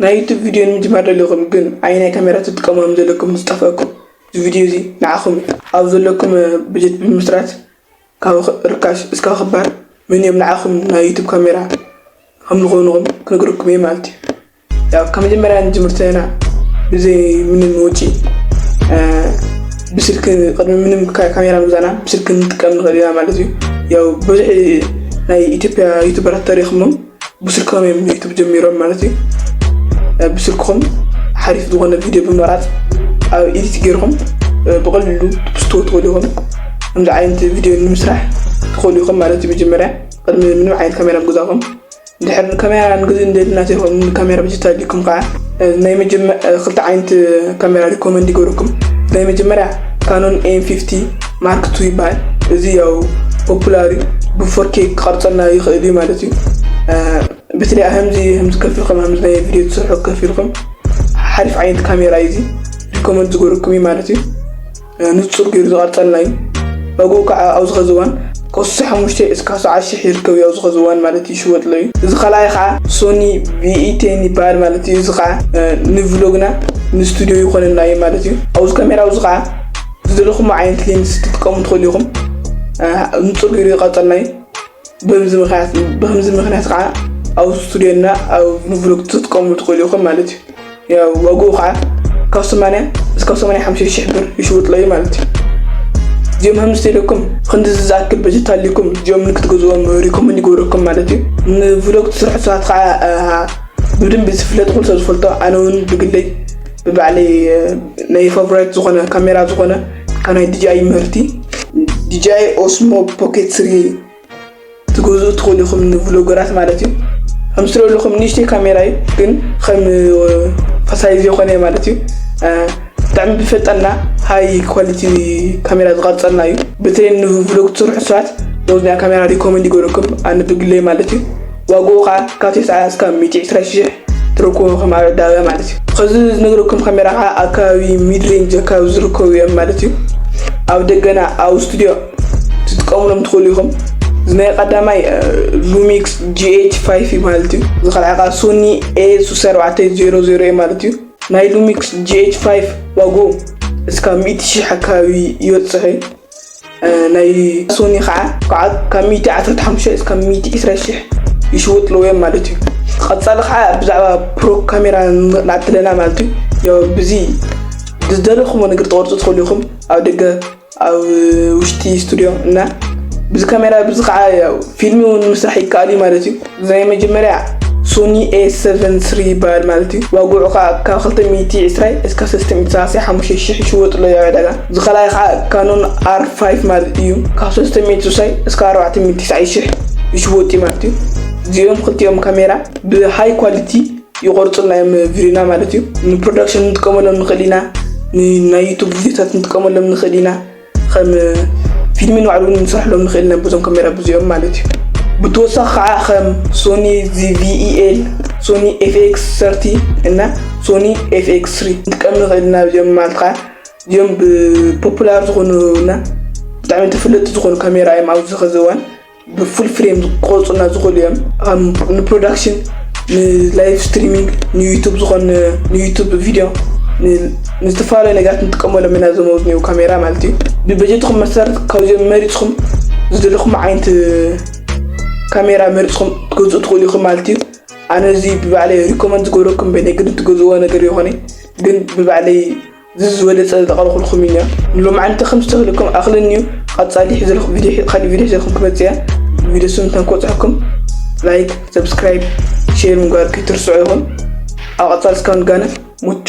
ናይ ዩቱብ ቪድዮ ንምጅማር ደሊኹም ግን ኣየናይ ካሜራ ትጥቀሙ ከምዘለኩም ምስ ጠፈኣኩም እዚ ቪድዮ እዚ ንዓኹም እዩ። ኣብ ዘለኩም በጀት ብምምስራት ካብ ርካሽ እስካብ ክባር መን እዮም ንዓኹም ናይ ዩቱብ ካሜራ ከም ዝኾኑኹም ክነግረኩም እየ ማለት እዩ። ያው ካብ መጀመርያ ንጅምር ተለና ብዘይ ምንም ወጪ ብስልክ ቅድሚ ምንም ካሜራ ምዛና ብስልክ ንጥቀም ንኽእል ኢና ማለት እዩ። ያው ብዙሕ ናይ ኢትዮጵያ ዩቱበራት ተሪኽሞም ብስልኮም እዮም ዩቱብ ጀሚሮም ማለት እዩ ብስልክኹም ሓሪፍ ዝኾነ ቪድዮ ብምቕራፅ ኣብ ኢዲት ገይርኹም ብቐሊሉ ትፕስትዎ ትኽእሉ ኢኹም ከምዚ ዓይነት ቪድዮ ንምስራሕ ትኽእሉ ኢኹም ማለት እዩ መጀመርያ ቅድሚ ምንም ዓይነት ካሜራ ምገዛኹም ድሕር ንካሜራ ንግዚ እንደልና ዘይኮም ንካሜራ ብጅታ ዲኩም ከዓ ናይ መጀመ ክልተ ዓይነት ካሜራ ሪኮመንድ ይገብረኩም ናይ መጀመርያ ካኖን ኤም ፊፍቲ ማርክ ቱ ይበሃል እዚ ያው ፖፑላር እዩ ብፎርኬ ክቐርፀልና ይኽእል እዩ ማለት እዩ ብትለይ ከምዚ ከምዚ ከፊልኩም ከምዚ ናይ ቪድዮ ትሰርሑ ከፊልኩም ሓሪፍ ዓይነት ካሜራ እዩ እዚ ሪኮመንድ ዝገበረኩም እዩ ማለት እዩ ንፁር ገይሩ ዝቐርፀልና እዩ ዋግኡ ከዓ ኣብዚ ኸዚ እዋን ካብ ስሳ ሓሙሽተ እስካብ ሰዓት ሽሕ ይርከብ እዩ ኣብዚ ኸዚ እዋን ማለት ይሽወጥ ኣሎ እዩ እዚ ካልኣይ ከዓ ሶኒ ቪኢቴን ይበሃል ማለት እዩ እዚ ከዓ ንቭሎግና ንስቱድዮ ይኾነና እዩ ማለት እዩ ኣብዚ ካሜራ ኣብዚ ከዓ ዝደለኹሞ ዓይነት ሌንስ ክትጥቀሙ ትኽእሉ ኢኹም ንፁር ቪድዮ ይቐፀልና እዩ በዚ ምክንያት በከምዚ ምክንያት ከዓ ኣብ ስቱድዮና ኣብ ንብሎግ ትጥቀሙ ትኽእሉ ኢኹም ማለት እዩ ያው ዋግኡ ከዓ ካብ ሰማንያ እስካብ ሰማንያ ሓምሽተ ሽሕ ብር ይሽውጥሎ እዩ ማለት እዩ እዚኦም ሃምስተ ኢለኩም ክንዲዚ ዝኣክል በጀት ኣልኩም እዚኦም ንክትገዝዎም ሪኮመንድ ይገብረኩም ማለት እዩ ንብሎግ ትስርሑ ሰባት ከዓ ብድንቢ ዝፍለጥ ኩሉ ሰብ ዝፈልጦ ኣነ እውን ብግለይ ብባዕለይ ናይ ፋብራይት ዝኾነ ካሜራ ዝኾነ ካብ ናይ ዲጂኣይ ምህርቲ ዲጂኣይ ኦስሞ ፖኬት ስሪ ትገዝኡ ትኽእሉ ኢኹም ንቭሎገራት ማለት እዩ ከም ስለ ኣለኹም ንእሽተይ ካሜራ እዩ ግን ከም ፈሳይ ዘይኮነ እዩ ማለት እዩ ብጣዕሚ ብፈጠና ሃይ ኳሊቲ ካሜራ ዝቐርፀልና እዩ በተለይ ንቭሎግ ትስርሑ ሰባት ነዚ ናይ ካሜራ ሪኮመንድ ይገብረኩም ኣነ ብግለይ ማለት እዩ ዋግኡ ከኣ ካብ ተስዓ ስካብ ሚእቲ ዕስራ ሽሕ ትረክቦ ከም ኣረዳብያ ማለት እዩ። ኸዚ ዝነግረኩም ካሜራ ከኣ ኣብ ከባቢ ሚድ ሬንጅ ኣከባቢ ዝርከቡ እዮም ማለት እዩ። ኣብ ደገና ኣብ ስቱድዮ ትጥቀምሎም ትኽእሉ ኢኹም። እዚ ናይ ቀዳማይ ሉሚክስ GH ፋይፍ እዩ ማለት እዩ። እዚ ካልዓይ ከኣ ሶኒ ኤ ሱሳ ኣርባዕተ ዜሮ ዜሮ እዩ ማለት እዩ። ናይ ሉሚክስ GH ፋይፍ ዋግኡ እስካብ ሚእቲ ሽሕ ኣከባቢ ይበጽሕ እዩ። ናይ ሶኒ ከዓ ከዓ ካብ ሚእቲ ዓሰርተ ሓሙሽተ እስካብ ሚእቲ ዕስራ ሽሕ ይሽውጥ ኣለዎ እዮም ማለት እዩ ቀፃሊ ከዓ ብዛዕባ ፕሮ ካሜራ ንኣቲ ኣለና ማለት እዩ ያው ብዚ ብዝደለኹሞ ነገር ተቆርፁ ትኽእሉ ኢኹም ኣብ ደገ ኣብ ውሽጢ ስቱድዮ እና ብዚ ካሜራ ብዚ ከዓ ያው ፊልሚ እውን ምስራሕ ይከኣል እዩ ማለት እዩ ናይ መጀመርያ ሶኒ ኤ ሰቨን ስሪ ይበሃል ማለት እዩ ዋግዑ ከዓ ካብ ክልተ ሚእቲ ዕስራይ እስካ ሰለስተ ሚእቲ ሰላሳይ ሓሙሽተ ሽሕ ይሽወጥ ኣሎ ያው ዕዳጋ እዚ ካልኣይ ከዓ ካኖን ኣር ፋይፍ ማለት እዩ ካብ ሰለስተ ሚእቲ ስሳይ እስካ ኣርባዕተ ሚእቲ ትስዓይ ሽሕ ይሽወጥ እዩ ማለት እዩ እዚኦም ክልቲኦም ካሜራ ብሃይ ኳሊቲ ይቆርፁልና እዮም ቪድዮና ማለት እዩ ንፕሮዳክሽን ንጥቀመሎም ንክእል ኢና ንናይ ዩቱብ ቪድዮታት ንጥቀመሎም ንክእል ኢና ኸም ፊልሚ ንባዕሉ እውን ንሰርሕሎም ንኽእል ኢና ብዞም ካሜራ ብዚኦም ማለት እዩ ብተወሳኺ ከዓ ኸም ሶኒ ዚቪኢኤል ሶኒ ኤፍኤክስ ሰርቲ እና ሶኒ ኤፍኤክስ ስሪ ንጥቀም ንኽእል ኢና ብዚኦም ማለት ከዓ እዚኦም ብፖፑላር ዝኾኑ እና ብጣዕሚ ተፈለጥቲ ዝኾኑ ካሜራ እዮም ኣብዚ ኸዚ እዋን ብፉል ፍሬም ክቆርፁልና ዝኽእሉ እዮም ኣብ ንፕሮዳክሽን ንላይቭ ስትሪሚንግ ንዩቱብ ዝኾን ንዩቱብ ቪድዮ ንዝተፈላለዩ ነገራት ንጥቀመሎም ኢና እዞም ኣብዝኒው ካሜራ ማለት እዩ ብበጀትኹም መሰረት ካብዚኦም መሪፅኹም ዝደለኹም ዓይነት ካሜራ መሪፅኹም ትገዝኡ ትኽእሉ ኢኹም ማለት እዩ ኣነ እዚ ብባዕለይ ሪኮመንድ ዝገብረኩም በይነ ግን ትገዝዎ ነገር ይኾነ ግን ብባዕለይ ዝዚ ዝበለጸ ዘቕረኹልኩም ኢና ንሎማዓንቲ ከም ዝተህልኩም ኣኽለኒ እዩ ቐጻሊ ሕዘልኹ ቪድዮ ኻሊ ቪድዮ ሕዘልኩም ክመጽእ እያ ቪድዮ ስም እንተን ክበጽሐኩም ላይክ ሰብስክራይብ ሼር ምግባር ከይትርስዑ ይኹን ኣብ ቐጻሊ እስከ ንጋነ ሙቹ